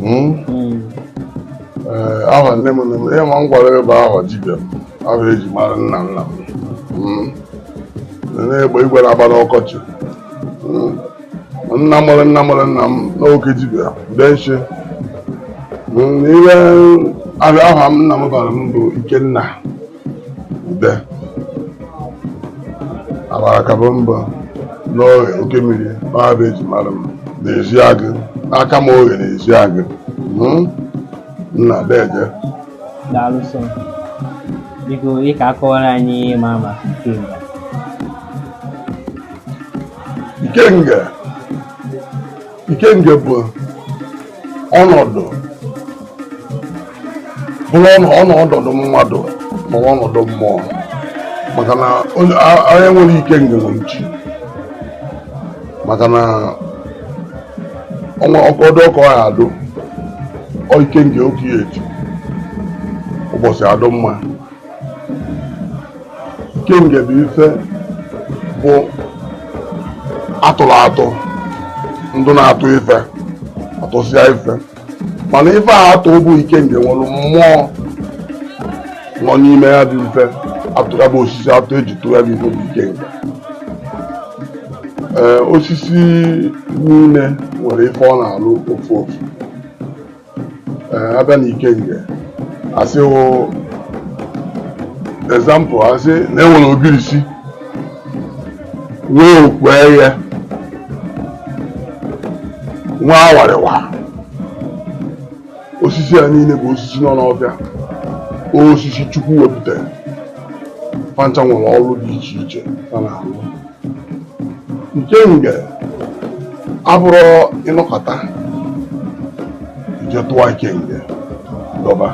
hmm? Hmm. Eh, aha nne m nne m ihe ma m gwara ebe aha dibịa aha eji mara nna nna m hmm. egbe igwe na-agba n'ọkọchị nna mụrụ nna mụrụ nna m bụ oke dibịa denshi ihe aha m nna m bara m bụ Ikenna abarakaba mba n'Oghe oke mmiri aha bụ eji mara m n'Ezeagu Akama Oghe n'Ezeagu hmm? nna deje daalụsọ biko ị ga-akọwara anyị ma maka ikenga ikenga ikenga bụ ọnọdụ bụrụ ọnọdụ mmadụ ma ọnọdụ mmụọ maka na onye nwere ikenga nwere chi maka na ọnwa ọkọdụ ọkọ ya adụ ikenga oke ya eji ụbọchị adụ mma ikenga bụ ife bụ atụrụ atụ ndụ na-atụ ife atụsịa ife mana ife a atụ bụ ikenga nwere mmụọ nọ n'ime ya bụ ife atụ ga-abụ osisi atụ eji tụọ ya bụ ife bụ ikenga ee osisi niile nwere ife ọ na-alụ ofu ofu abịa na ikenga asị example asị na enwere ogirisi nwee okpu eghe nwee awarịwa osisi a niile bụ osisi nọ n'ọfịa osisi chukwu wepụtara fa ncha nwere ọrụ dị iche iche fa na-alụ ikenga abụrọ ị nọkata i jee tụwa ikenga dọba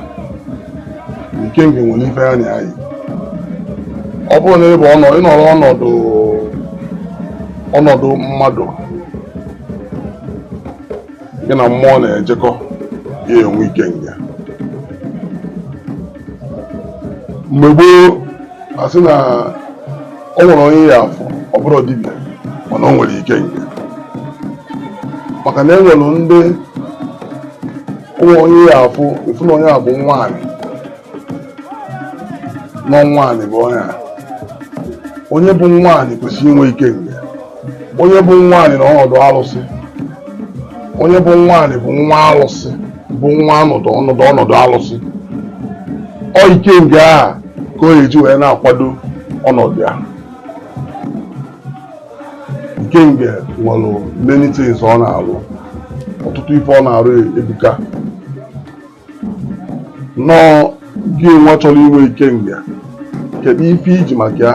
ikenga nwere ife ya na ya yi ọ bụrụ na ịbụ ọnọ ịnọrọ ọnọdụ ọnọdụ mmadụ gị na mmụọ na-ejekọ ị ya-enwe ikenga mgbe gboo asị na o nwere onye ị ya-afụ ọ bụrụ dibịa mana o nwere ikenga maka na e nwere ndị o nwere onye ị ya-afụ ị fụ na onye a bụ nwaanyị nọ nwaanyị bụ onye a onye bụ nwaanyị kwesịrị inwe ikenga onye bụ nwaanyị na ọnọdụ alụsị onye bụ nwaanyị bụ nwa alụsị bụ nwa ọnọdụ alụsị ọ ikenga a ka o ji wee na-akwado ọnọdụ ya ikenga nwere many things ọ na-arụ ọtụtụ ife ọ na-arụ ebuka nọọ gị nwa chọrọ inwe ikenga kedu ife i ji maka ya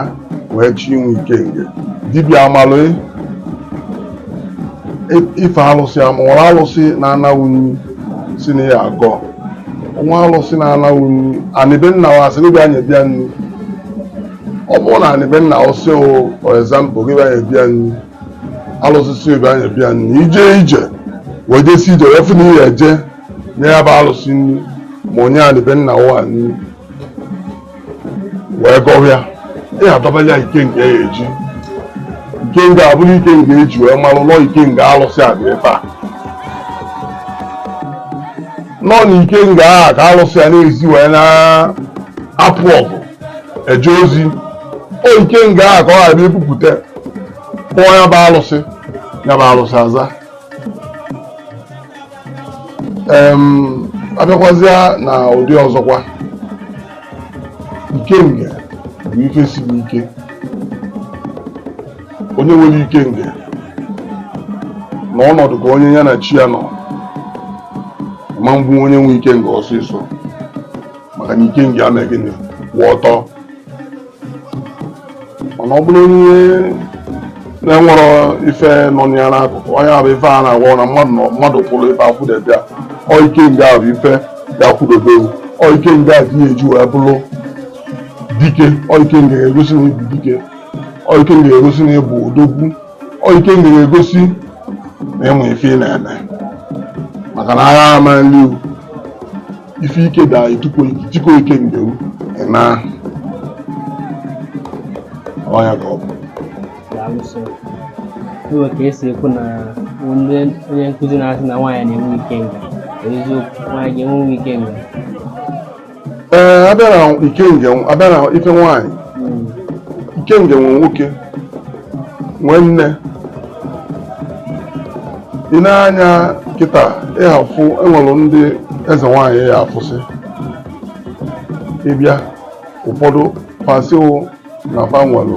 wee chọọ inwe ikenga dibịa amalụ ife alụsị enwere alụsị na-ana gị nri sị na ya agọ nwa alụsị na-ana gị nri anị be nna wa asị gị bịa nyebe ya nri ọ bụrụ na anị be nna ọ sị for example gị bịa nyebe ya nri alụsị sị bịa nyebe ya nri ije ije wee jesi ije wee fụ na ihe eje nye ya bụ alụsị nri ma nye anị be nna ụwa nri wee gọwa ya ị adọbala ya ikenga eji ikenga abụrụ ikenga eji wee malụ na ọ ikenga alụsị a dị ebe a na ọ na ikenga a ka alụsị a na-esi wee na-apụ ọgụ eje ozi ọ ikenga a ka a ga-ebupụta kpọọ ya bụ alụsị ya bụ alụsị aza abịakwazịa na ụdị ọzọkwa ikenga bụ ife siri ike onye nwere ikenga na ọnọdụ ka onye ya na chi ya nọ ama egbu onye nwe ikenga ọsịsọ maka na ikenga eme gịnị kwụ ọtọ mana ọ bụrụ onye na-enwerọ ife nọ ya n'akụkụ ọ ya bụ ife a na-agwa na mmadụ kwụrụ ife akwụdebe ya ọ ikenga bụ ife ya-akwụdobe ọ ikenga ka ị ya-eji wee bụrụ dike ọ ikenga ga-egosi na ị bụ dike ọ ikenga ga-egosi na ị bụ odogwu ọ ikenga ga-egosi na ị ma ife ị na-eme maka na agha ama nri ife ike da etukwo chiko ike ndewu na ọnya ka ọ bụ alụso iwe ka esi ekwu na onye onye nkụzi na-asị na nwaanyị na-enwe ikenga eziokwu nwaanyị ga-enwe ikenga ee abịa na ikenga abịa na ife nwaanyị ikenga nwe nwoke nwee nne i nee anya kịta ị ga-afụ enwere ndị eze nwaanyị ya afụsị ebe a ụfọdụ fa sịwa na fa nwelu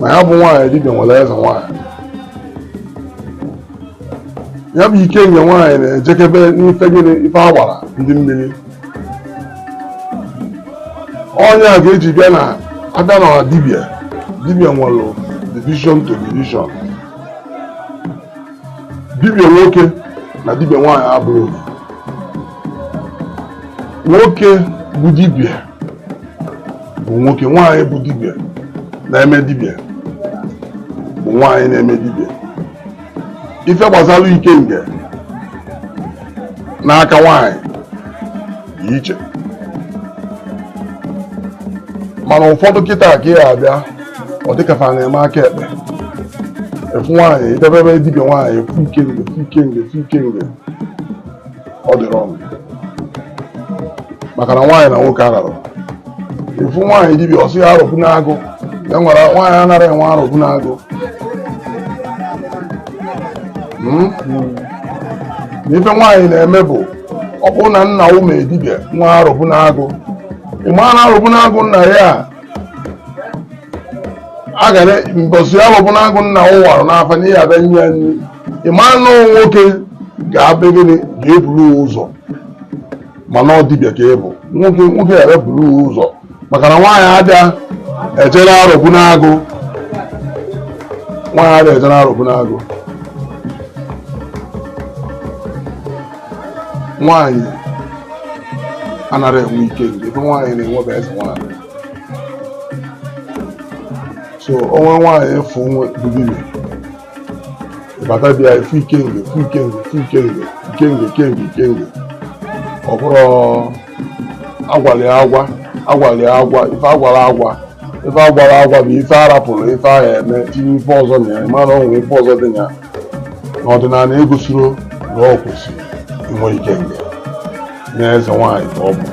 na ya bụ nwaanyị dibịa nwere eze nwaanyị ya bụ ikenga nwaanyị na-ejekebe n'ife gịnị ife agbara ndị mmiri onye a ga-eji bịa na abịa na dibịa dibịa nwere division to division dibịa nwoke na dibịa nwaanyị abụrọ nwoke bụ dibịa bụ nwoke nwaanyị bụ dibịa na-eme dibịa bụ nwaanyị na-eme dibịa ife gbasara ikenga n'aka nwaanyị dị iche mana ụfọdụ kịta ka ị abịa ọ dịka fa na-eme aka ekpe ị fụ nwaanyị i jebe be dibịa nwaanyị ị fụ ikenga ị fụ ikenga ị fụ ikenga ọ dịrọ ọnụ maka na nwaanyị na nwoke ararọ ị fụ nwaanyị dibịa ọ sị ya arọbụ n'agụ ya nwere nwaanyị anarọ enwe arọbụ n'agụ Hmm? na ife nwaanyị na-eme bụ ọ bụrụ na nna ya mee dibịa nwee arọbụ n'agụ ị ma na arọbụ n'agụ nna ya a a ga na mbọsị arọbụ n'agụ nna ya warụ n'afa n'ihi abịa nye ya nri ị ma na ọ nwoke ga-abịa gịnị ga-eburu ya ụzọ mana ọ dibịa ka ị bụ nwoke ga-eburu ya ụzọ maka na nwaanyị adịa eje n'arọbụ n'agụ nwaanyị adịa eje n'arọbụ n'agụ nwaanyị anarọ enwe ikenga ife nwaanyị na-enwe bụ eze nwaanyị so o nwee nwaanyị ị fụ nwe bụ dibịa bata be ya ị fụ ikenga ị fụ ikenga ị fụ ikenga ikenga ikenga ikenga ọ bụrụ agwalụ agwa agwalụ agwa ife a gwalụ agwa ife a gwalụ agwa bụ ife a rapụrụ ife ahụ eme tinye ife ọzọ na ya ị ma na o nwere ife ọzọ dị na ya na ọdịnanị egosiro na o kwesịrị inwe ikenga na eze nwaanyị ka ọ bụ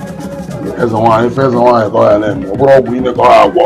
eze nwaanyị ife eze nwaanyị ka ọ ya na-eme ọ bụrụ ọgwụ ime ka ọ ya-agwọ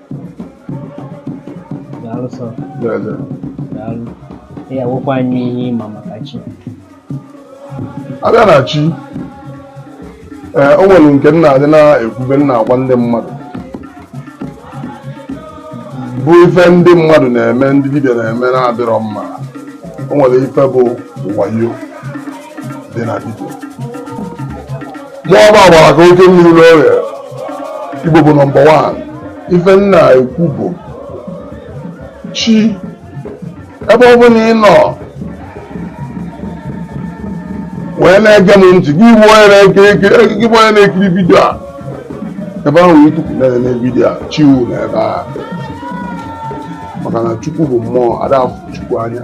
daalụ sọ daalụ ị ga-agwakwa anyị ihe ị ma maka chi a bịa na chi ee o nwere nke m na-adị na-ekwube m na-agwa ndị mmadụ bụ ife ndị mmadụ na-eme ndị dibịa na-eme na-adịrọ mma o nwere ife bụ wayo dị na vidio mụọ bụ agbara ka oke mmiri n'ọrịa igbo bụ nọmba wan ife m na-ekwu bụ chi ebe ọ bụla ị nọ wee na-ege m ntị gị bụ onye na-ekiri gị bụ onye na-ekiri vidio a ebe ahụ ị tukwu na-ene vidio a chi wụ nọ ebe a maka na chukwu bụ mmụọ ada afụ chukwu anya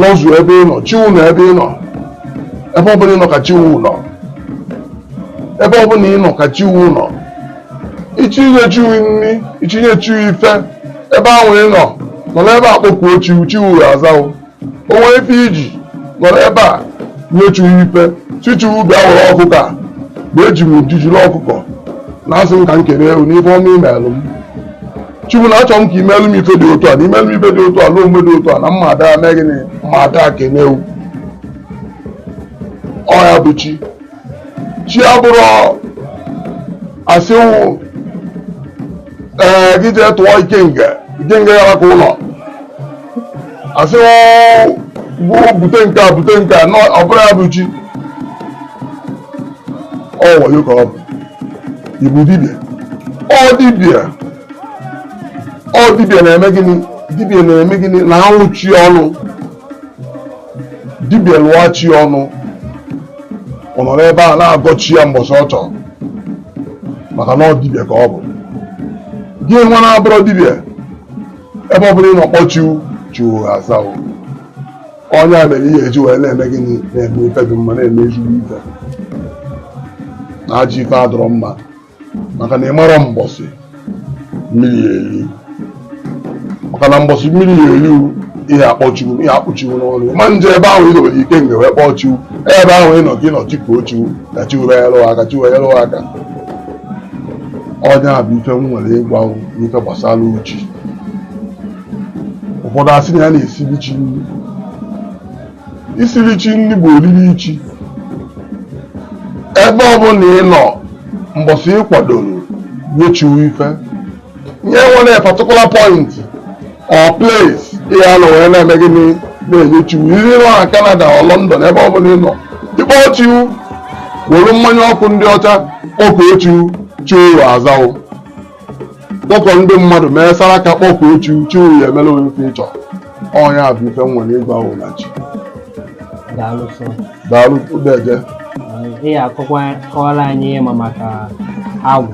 nọzu ebe ị nọ chi wụ nọ ebe ị nọ ebe ọ bụla ị nọ ka chi wụ nọ ebe ọ bụla ị nọ ka chi wụ nọ ị chọ inye chi wụ nri ị chọ inye chi wụ ife ebe ahụ ị nọ nọlụ ebe a kpọkuo chi wụ chi wụ ya-aza wụ o nwee ife i ji nọlụ ebe a nye chi wụ ife sị chi wụ bịa wụrụ ọkụkọ a mgbe eji m uju jiri ọkụkọ na-asị m ka m kelee wụ n'ife ọma i melụ m chukwu na achọrọ m ka i meelu m ife dị otu a na i meelu m ife dị otu a na omume dị otu a na mma ada mee gịnị ma ada kene wụ ọ ya bụ chi chi abụrọ a sị wụ ee gị jee tụọ ikenga ikenga ya maka ụlọ a sị bute nke a bute nke a ọ bụrọ ya bụ chi ọ wayo ka ọ bụ ịbụ dibịa ọ dibịa ọ dibịa na-eme gịnị dibịa na-eme gịnị na-alụ chi ọnụ dibịa lụọ chi ọnụ ọ nọlụ ebe a na-agọ chi ya mbọsị ọ chọrọ maka na ọ dibịa ka ọ bụ gị nwa na-abụrọ dibịa ebe ọ bụla ị nọ kpọọ chi wụ chi wụ aza wụ ọ nya mere ị ya-eji wee na-eme gịnị na-eme ife dị mma na-eme ezigbo ife na ajọ ife adịrọ mma maka na ị marọ mbọsị mmiri ya eri maka na mbọsị mmiri ya eri ị ya-akpọ chi wụ ị ya-akpọ chi wụ n'ọnụ ị ma-eje ebe ahụ i dobere ikenga wee kpọọ chi wụ ebe ahụ ị nọ ka ị nọ chikuo chi wụ ka chi wụ wee yelụ aka chi wụ wee yelụ aka ọ nya bụ ife m nwere ịgwa n'ife gbasara chi ụfọdụ asị na ya na-esiri chi nri isiri chi nri bụ oriri chi ebe ọ bụla ị nọ mbọsị ị kwadoro inye chi wụ ife nye e nwerọ particular point or place ị ya-anọ wee na-eme gịnị na-enye chi wụ ihe ị nọ na Canada or London ebe ọ bụla ị nọ ị kpọọ chi wụ were mmanya ọkụ ndị ọcha kpọkuo chi wụ chi wụ aza wụ kpọkọ ndị mmadụ mee saraka kpọkuo chi wụ chi wụ ya-emelụ wụ ife ị chọ ọ nya bụ ife m nwere ịgwa wụ na chi daalụ sọ daalụ udeje ị ya-akọwa kọwara anyị ihe ị ma maka agwụ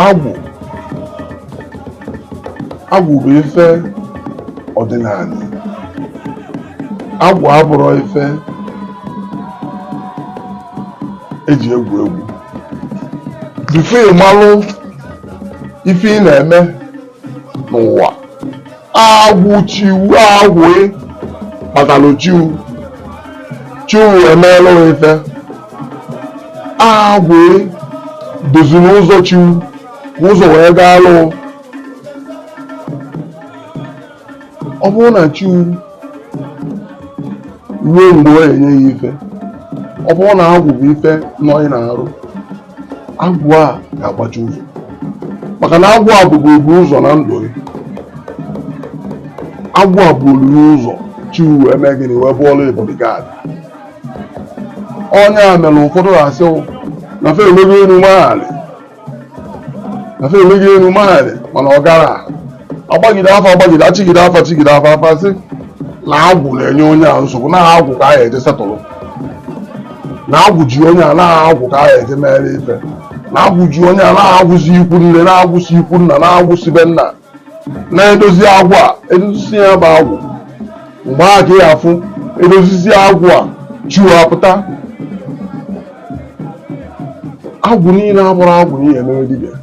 agwụ agwụ bụ ife ọdịnanị agwụ abụrọ ife eji egwu egwu before ị malụ ife ị na-eme n'ụwa agwụ chiwu agwụ kpatalụ chiwu chiwu emeela ife agwụ doziri ụzọ chiwu ka ụzọ wee gaa lụụ ọ bụrụ na chiwu ruo mgbe ọ na-enye ya ife ọ bụrụ na agwụ bụ ife nọ ị na-arụ agwụ a ga-agbachi ụzọ maka na agwụ a bụ obu ụzọ na ndụ gị agwụ a bụ olulu ụzọ chi wee mee gịnị wee bụrụ bodyguard onye a mere ụfọdụ asị na fa emego enu mego anị na fa emego enu mego anị mana ọ garọ agbagide afa agbagide achigide afa achigide afa afa sị na agwụ na-enye onye a nsogbu na agwụ ka a ga-eje settle na agwụ ji onye a na agwụ ka a ga-eje mere ife na agwụ ji onye a na agwụ si ikwu nne na agwụ si ikwu nna na agwụ si be nna na-edozi agwụ a edozisi ya bụ agwụ mgbe a ka ị ya-afụ edozisi agwụ a chiwa apụta agwụ niile abụrọ agwụ eji eme dibịa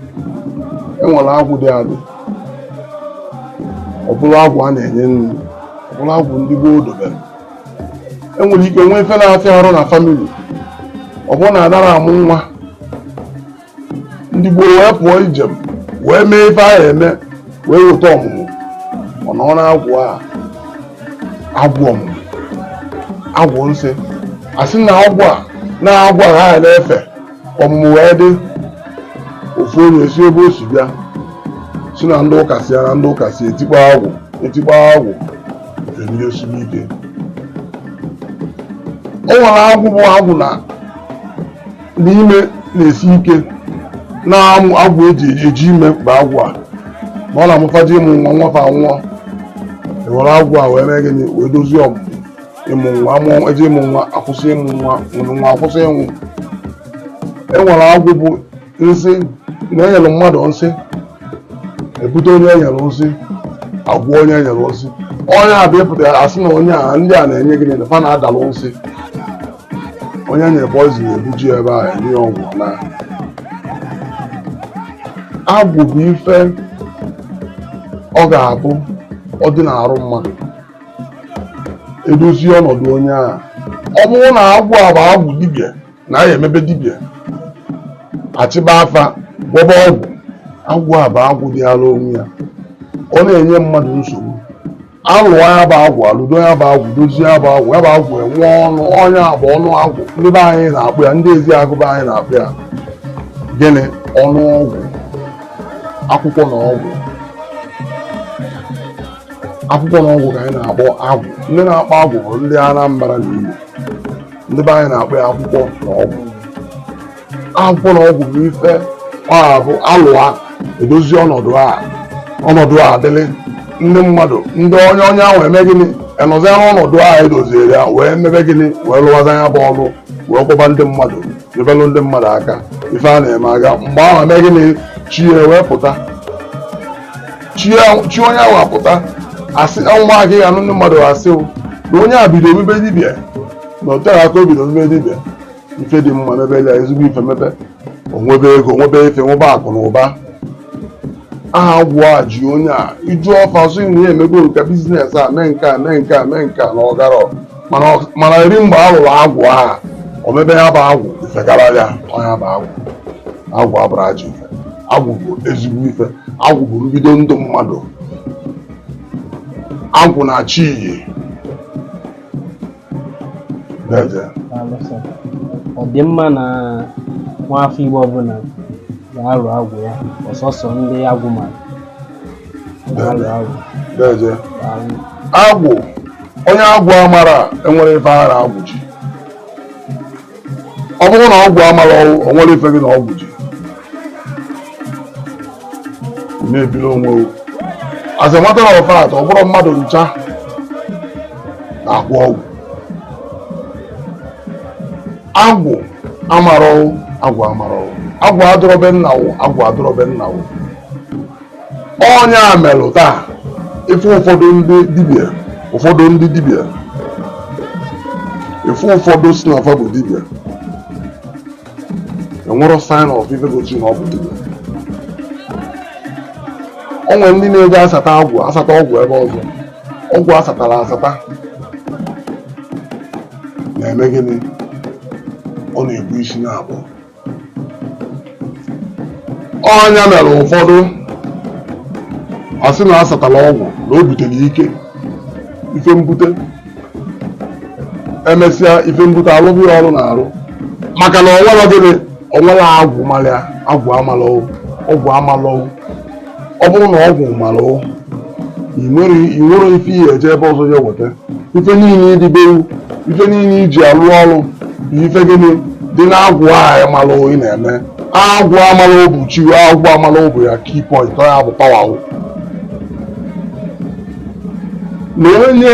enwere agwụ dị adị ọ bụrụ agwụ a na-enye nri ọ bụrụ agwụ ndị gboo dobere enwere ike nwee ife na-afịa arụ na family ọ bụrụ na adarọ amụ nwa ndị gboo wee pụọ ijem wee mee ife a ya-eme wee weta ọmụmụ ọ nọ na agwụ a agwụ ọmụmụ agwụ nsị asị na agwụ a na agwụ a ha na-efe ka ọmụmụ wee dị ofu onye si ebe o si bịa sị na ndị ụka sị ya na ndị ụka sị etikpọ agwụ etikpọ agwụ enye osiri ike o nwere agwụ bụ agwụ na ime na-esi ike na agwụ eji eji ime mkpa agwụ a ma ọ na-amụ fa ji ịmụ nwa nwa fa anwụọ ewere agwụ a wee mee gịnị wee dozie ọmụmụ ịmụ nwa amụọ eji ịmụ nwa akwụsị ịmụ nwa nwụrụ nwa akwụsị ịnwụ e nwere agwụ bụ nsị na enyere mmadụ nsị ebute onye enyere nsị agwọ onye enyere nsị ọ ya bụ ịpụta asị na onye a ndị a na-enye gịnị na fa na-adalụ nsị onye enyere poison ebuje ebe a enye ya ọgwụ na agwụ bụ ife ọ ga-abụ ọ dị n'arụ mmadụ edozie ọnọdụ onye ahụ ọ bụrụ na agwụ a bụ agwụ dibịa na ya emebe dibịa achịba afa gwọba ọgwụ agwụ a bụ agwụ dị ala onwe ya ọ na-enye mmadụ nsogbu alụọ ya bụ agwụ alụdo ya bụ agwụ dozie ya bụ agwụ ya bụ agwụ enwe ọnụ ọ nya bụ ọnụ agwụ ndị be anyị na-akpọ ya ndị Ezeagụ be anyị na-akpọ ya gịnị ọnụ ọgwụ akwụkwọ na ọgwụ akwụkwọ na ọgwụ ka anyị na-akpọ agwụ ndị na-akpọ agwụ bụ ndị Anambra na Igbo ndị be anyị na-akpọ ya akwụkwọ na ọgwụ akwụkwọ na ọgwụ bụ ife ọ bụ alụwa edozi ọnọdụ a ọnọdụ a adịlị ndị mmadụ ndị onye onye ahụ eme gịnị enọzia n'ọnọdụ a edoziere ya wee mebe gịnị wee lụwaza ya bụ ọlụ wee gwọba ndị mmadụ nyebelụ ndị mmadụ aka ife a na-eme aga mgbe ahụ eme gịnị chi ya wee pụta chi ya- chi onye ahụ apụta asị maka ị ga-anụ ndị mmadụ asị o na onye a bido omebe dibịa na o tere aka o bido omebe dibịa ife dị mma mebe ya ezigbo ife mebe o nwebe ego nwebe ife nwebe akụ na ụba aha agwụ a ji onye a ị jụọ fa sị na ya emego nke business a mee nke a mee nke a mee nke a na ọ garọ mana eri mgbe a lụrụ agwụ ahụ o mebe ya bụ agwụ ife gara ya ọ nya bụ agwụ agwụ abụrọ ajọ ife agwụ bụ ezigbo ife agwụ bụ mbido ndụ mmadụ agwụ na chi yi ọ dị mma na nwa afọ Igbo ọbụla ga-alụ agwụ ya ọsọsọ ndị agwụ mara agwụ onye agwụ amarọ enwerọ ife ya na agwụ ji ọ bụrụ na ọgwụ amarọ wụ o nwerọ ife gị na ọgwụ ji na-ebili onwe as a matter of fact ọ bụrọ mmadụ ncha na-agwọ ọgwụ agwụ amarọ wụ agwụ amarọ wụ agwụ adọrọ be nna wụ agwụ adọrọ be nna wụ ọ nya merụ taa ị fụ ụfọdụ ndị dibịa ụfọdụ ndị dibịa ị fụ ụfọdụ sị na fa bụ dibịa enwerọ sign of ife gosi na ọ bụ dibịa o nwere ndị na-eje asata ọgwụ asata ọgwụ ebe ọzọ ọgwụ asatara asata na-eme gịnị ọ na-ebu isi na-abụọ ọ nya mere ụfọdụ asị na asatala ọgwụ na o butere ike ife mbute emesịa ife mbute alụghị ya ọrụ n'arụ maka na o nwerọ gịnị o nwerọ agwụ mara ya agwụ amalọ wụ ọgwụ amalọ wụ ọ bụrụ na agwụ mara ụ i nwerọ ife i ya eje ebe ọzọ ya weta ife niile dị be wụ ife niile i ji alụ ọrụ bụ ife gịnị dị na agwụ ahụ mara ị na-eme agwụ ahụ mara ụ bụ chi agwụ ahụ mara ụ bụ ya key point ọ ya bụ pawa wụ na onye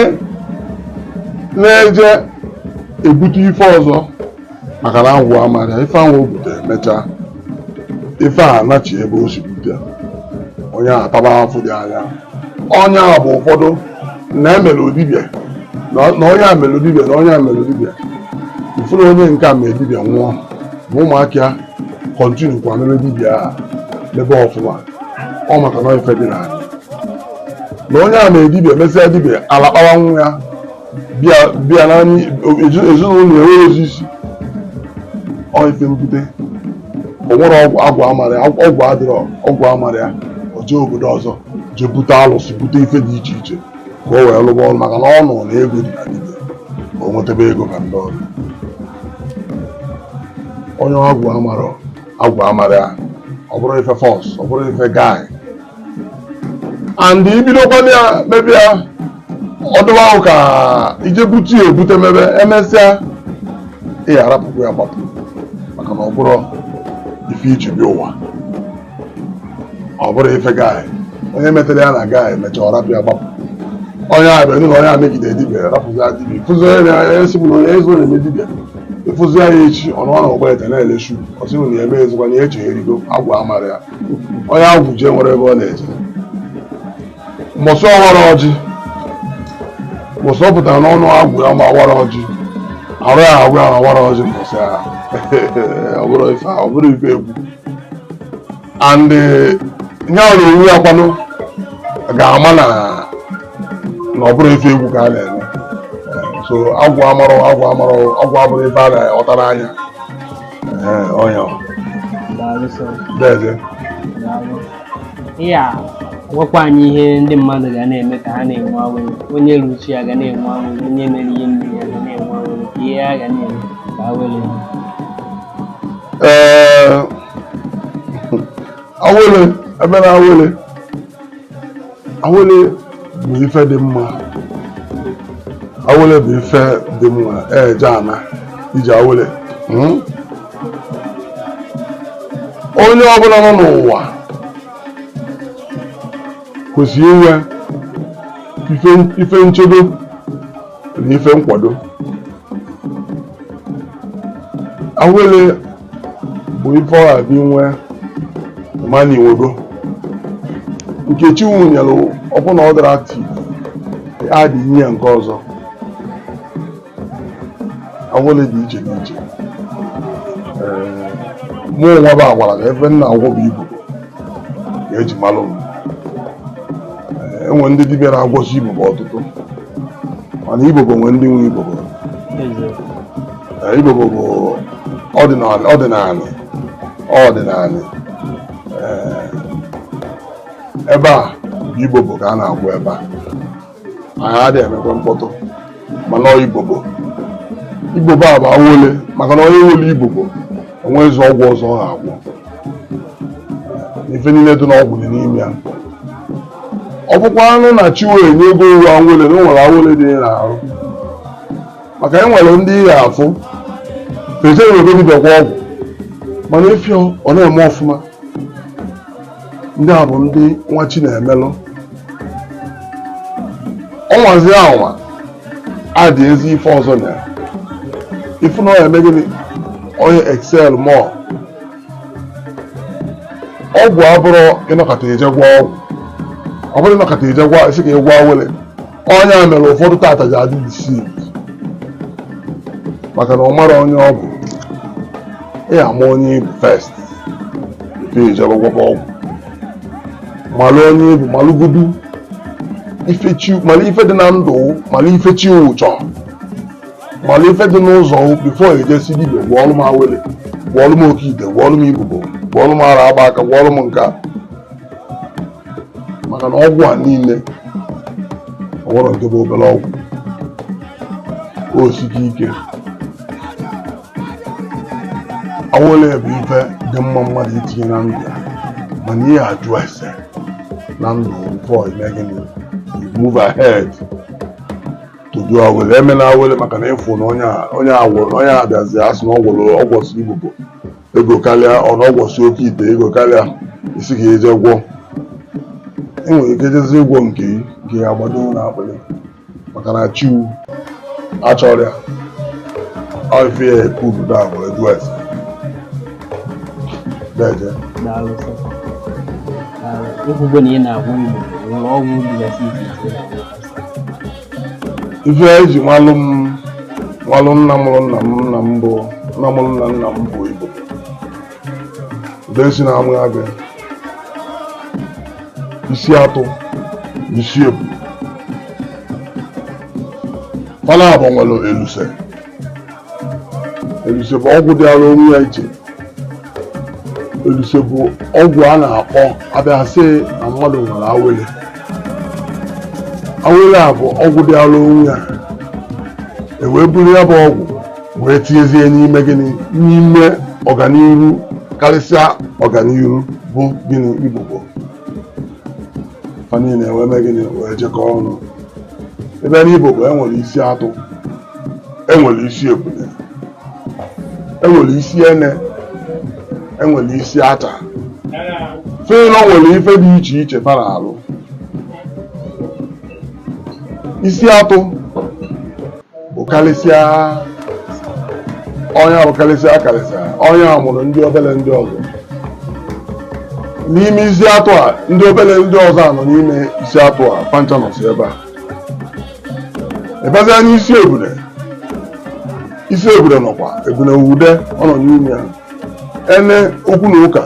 na-eje ebute ife ọzọ maka na agwụ amarọ ya ife ahụ o butere emechaa ife a nachi ebe o si bute onye a ataba afụ dị anya onye a bụ ụfọdụ na emere dibia na nna onye a mere dibia nna onye a mere dibia ị fụ nna onye nke a mere dibia nwụọ ma ụmụaka ya kọntinu kwa mebe dibia a mebe ọfụma ọ maka na ife dị na ya nna onye a mere dibia mesịa dibia alakpawa nwa ya bịa na ezinụlọ enwerọzi isi ọ ife mbute o nwere agwụ amarọ ya agwụ adịrọ agwụ amarọ ya o jee obodo ọzọ jee bute alụsị bute ife dị iche iche ka o wee lụba ọrụ maka na ọ nụ na ego dị na dibia o nwetebe ego ka ndị ọrụ onye agwụ amarọ agwụ amarọ ya ọ bụrọ ife fọs ọ bụrọ ife gaị and i bidokwana ya mebe ya otu ahụ ka i je bute ya ebute mebe emesịa ị ya arapụkwa ya gbapụ maka na ọ bụrọ ife i ji bịa ụwa ọ bụrọ ife gaị onye metere ya na gaị mechaa ọ rapụ ya gbapụ onye abịa nụ na onye a megide dibia rapụzia dibia ị fụzi onye na-esi m na onye ezi na-eme dibia ị fụzi ya echi ọ nọ na Ọgbete na-ele shu ọ sị na ya emezikwa na ya echegharịgo agwụ amarọ ya onye agwụ ji enwerọ ebe ọ na-eje mbọsị ọ warọ ọjị mbọsị ọ pụtara n'ọnụ agwụ ya ma awarọ ọjị arụ ya agwụ ya ma awarọ ọjị mbọsị ya ọ bụrọ ife ọ bụrọ ife egwu and eh, ya na onwe ya kwanụ ga-ama na ọ bụrọ ife egwu ka a na-eme so agwụ amarọ agwụ amarọ agwụ abụrọ ife a na-ọtara anya Ee, ọ ya ọ. Daalụ sọ. Dede. Daalụ. Ị ya agwakwa anyị ihe ndị mmadụ ga na-eme ka ha na-enwe awele onye ru chi ya ga na-enwe awele onye mere ihe mmiri ya ga na-enwe awele ka ihe a ga na-eme ka ha were ya. Ee, awele, ebe na awele. awele bụ ife dị mma awele bụ ife dị mma eje ana iji awele hmm? onye ọbụla nọ n'ụwa kwesịrị inwe ife nchedo na ife nkwado awele bụ ife ọ ga-adị nwe mana i nwego nke Chukwu nyere ọ bụ na ọ dịrọ active e tinye ya nke ọzọ awele dị iche n'iche mụ nwa bụ agwara ka ife m na-agwọ bụ ibobo ka eji malụ m e nwe ndị dibịa na-agwọsi ibobo ọtụtụ mana ibobo nwe ndị nwe ibobo ibobo bụ ọdịnanị ọdịnanị ebe a bụ ibobo ka a na-agwọ ebe a anyị adịghị emekwa mkpọtụ mana ibobo ibobo abụ awele maka na onye nwere ibobo o nwezi ọgwụ ọzọ ọ ga-agwọ ife niile dị n'ọgwụ dị n'ime ya ọ bụkwanụ na Chukwu enyego uwe awele na o nwere awele dị n'arụ maka e nwere ndị ị ya-afụ ejenwerọ be dibịa gwọọ ọgwụ mana ị fụ ọ na-eme ọfụma ndị a bụ ndị nwe chi na-emelụ ọnwazi anwa a dị ezi ife ọzọ na ya ifu na ọ eme gịnị ọ ya-excel more ọgwụ abụrọ ịnọkata eje gwọ ọgwụ abụrọ ịnọkata eje gwọ ị sị ka ị gwọ awele ọ ya mere ụfọdụ taata ji adị deceived maka na ọ marọ onye ọ bụ ị ya-ama onye ị bụ first tupu i jebe gwọba ọgwụ malụ onye ị bụ malụgodu ife chi malụ ife dị na ndụ malụ ife Chukwu chọ malụ ife dị n'ụzọ before i je sị dibịa gwọọlụ m awele gwọọlụ m oke ite gwọọlụ m ibobo gwọọlụ m ara agba aka gwọọlụ m nka maka na ọgwụ a niile o nwerọ nke bụ obere ọgwụ o sike ike awele bụ ife dị mma mmadụ itinye na ndụ ya mana ị ya-ajụ ese na ndụ before i mee gịnị move ahead to do awele emela awele maka na ịfụ na onye a gwọrọ na onye abịazi asị na ọ gwọrọ ọ gwọsị ibobo ego karịa or na ọ gwọsị oke ite ego karịa ị sị ka i je gwọ ị nwere ike jezi ịgwọ nke gị nke ya agbado n'akpịrị maka na Chukwu achọrọ ya ọfịa ekubu da bụ edu esi deje daalụ sọ ekwugbo na ị na-agwọ ibobo e nwere ọgwụ dịgasị iche iche ị na-agwọ ife eji malụ m malụ nna mụrụ nna m nna m bụ nna mụrụ nna nna m bụ ibobo e si na amụ ya bịa isi atụ isi ebu mana abụ nwere eluse eluse bụ ọgwụ dịara onwe ya iche eluse bụ ọgwụ a na-agwọ a bịa sị na mmadụ nwere awele awele a bụ ọgwụ dịara onwe ya ewee buru ya bụ ọgwụ wee tinyezie n'ime gịnị n'ime ọganiru karịsịa ọganiru bụ gịnị ibobo fa niile wee mee gịnị wee jikọọ ọnụ ebe n'ibobo e nwere isi atụ enwere isi ebule enwere isi ene enwere isi ata fa nwere ife dị iche iche fa na-alụ isi atụ bụ karịsịa onye bụ karịsịa karịsịa onye a mụrụ ndị obere ndị ọzọ n'ime isi atụ a ndị obere ndị ọzọ a nọ n'ime isi atụ a fa ncha nọsị ebe a ịbazia n'isi ebule isi ebule nọkwa ebule nwude ọ nọ n'ime ya ene okwu na ụka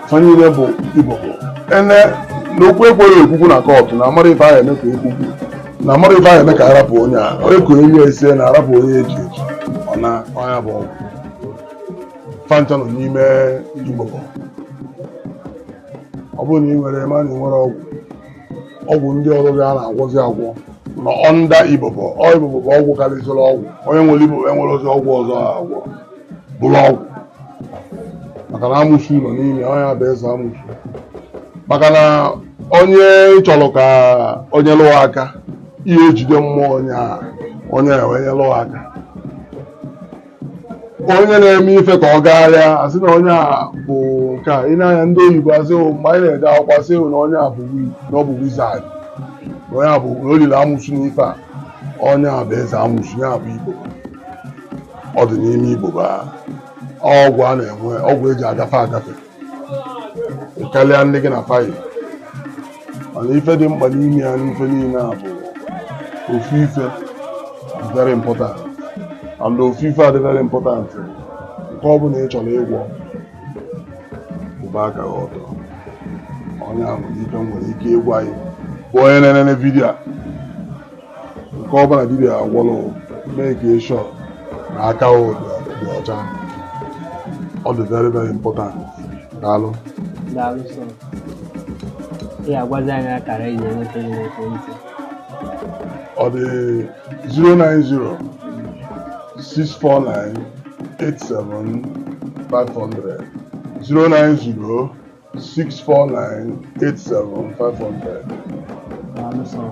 fanyere bụ ibobo ene na okwu ekweghị ekwukwu na kọtụ na amarọ ife a ya-eme ka ekwukwu na amarọ ife a ya-eme ka arapụ onye a onye ka onye ese na arapụ onye eji eji ọ na ya bụ ọgwụ fa ncha nọ n'ime ibobo ọ bụrụ na ị nwere ma na ị nwere ọgwụ ọgwụ ndị ọzọzi a na-agwọzi agwọ nọ under ibobo ọ ibobo bụ ọgwụ karịsịrị ọgwụ onye nwere ibobo enwerọzi ọgwụ ọzọ a agwọ bụrụ ọgwụ maka na amụsụ nọ n'ime onye bụ eze amụsụ maka na onye chọrọ ka o nyelụ ya aka ị ya-ejide mmụọ onye a onye a wee nyelụ ya aka onye na-eme ife ka ọ gagharịa asị na onye a bụ nke a ị na-anya ndị oyibo asị "Oh, mgbe anyị na-ede akwụkwọ asị "Oh, na onye a bụ wi- na ọ bụ wizard na onye a bụ na o liri amụsụ n'ife a onye a bụ eze amụsụ ya bụ ibobo ọ dị n'ime ibobo a. ọgwụ a na-enwe ọgwụ eji agafe agafe karịa ndị gị na fa yi mana ife dị mkpa n'ime ya n'ife niile a bụ ofu ife dị very important and ofu ife a dị very important nke ọ bụla ị chọrọ ịgwọ gbaa aka gị ọtọ ọ nya bụ ife m nwere ike ịgwa gị bụ onye na-enene video a nke ọbụla dibịa gwọrọ make sure na aka gị dị ọcha ọ dị very very important daalụ Daalụ sọ. Ị ga-agwazi anyị akara eji enweta gị n'ekwentị. ọ dị 090 649 87 500 090 64987 Daalụ sọ.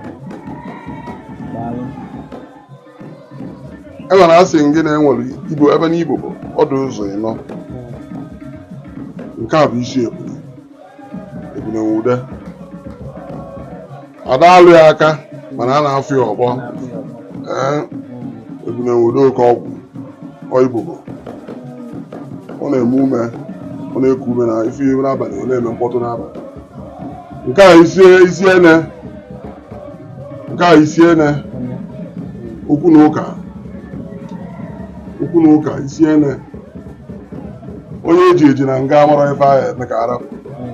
Daalụ. e nwere asị gị na enwere ibobo ebe na ibobo ọ dụ ụzọ ịnọ nke a bụ isi ebule ebule nwude a da-alụ ya aka mana a na-afụ ya ọkpọ ee ebune nwude oke ọgwụ ibobo ọ na-eme ume ọ na-eku ume na ife ihe n'abalị ọ na-eme mkpọtụ n'abalị nke a isi isi ene nke a isi ene okwu na ụka okwu na ụka isi ene onye eji eji na nga mara ife ahụ eme ka arapụ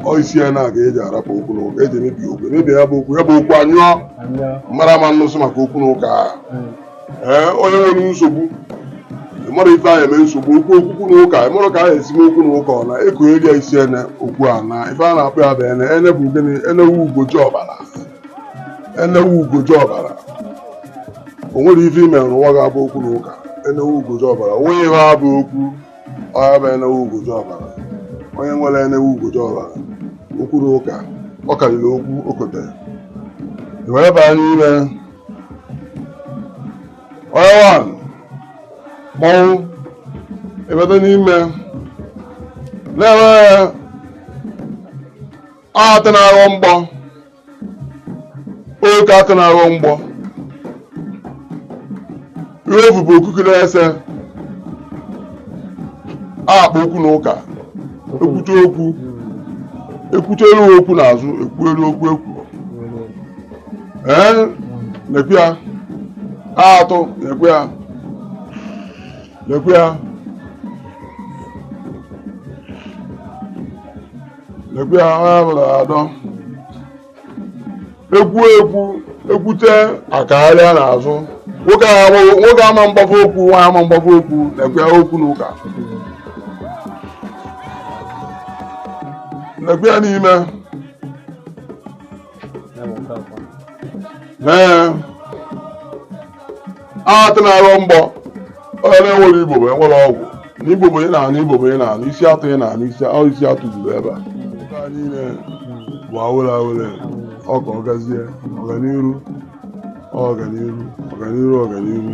ọ isi ya na-aga eji arapụ okwu na ụka eji emebi okwu emebi ya bụ okwu ya bụ okwu anyụọ mara ama nnụsụ maka okwu na ụka ahụ ee onye nwere nsogbu mara ife ahụ eme nsogbu okwu okwu na ụka mara ka ahụ esi m okwu na ụka ọ na eko eri ya isi ene okwu a na ife a na-akpọ ya bụ ene ene bụ gịnị enewu ugoji ọbara enewu ugoji ọbara o nwere ife ime n'ụwa ga-abụ okwu na ụka enewu ugoji ọbara o nweghị ihe abụ okwu ọya bụ enewu ugoji ọbara onye nwere enewu ugoji ọbara okwu na ụka ọ karịrị okwu okote wee baa n'ime onye wan mmanwụ ebata n'ime na-enwe atụ na-aghọ mgbọ oke atụ na-aghọ mgbọ ife bụ okuku na-ese akpa okwu na ụka ekwute okwu ekwute elu okwu n'azụ ekwu elu okwu ekwu ee nekwe ya atụ nekwe ya nekwe ya nekwe ya ha bụrụ adọ ekwu ekwu ekwute akagharịa n'azụ nwoke a agbaghị- nwoke ama mgbafe okwu nwaanyị ama mgbafe okwu nekwe ya okwu na ụka nekwe ya n'ime atụ na-aghọ mgbọ onye na-enwere ibobo enwere ọgwụ na ibobo ị na-anụ ibobo ị na-anụ isi atụ ị na-anụ isi isi atụ zuru ebe a niile bụ awele awele ọ ka ọ gazie ọganiru ọganiru ọganiru ọganiru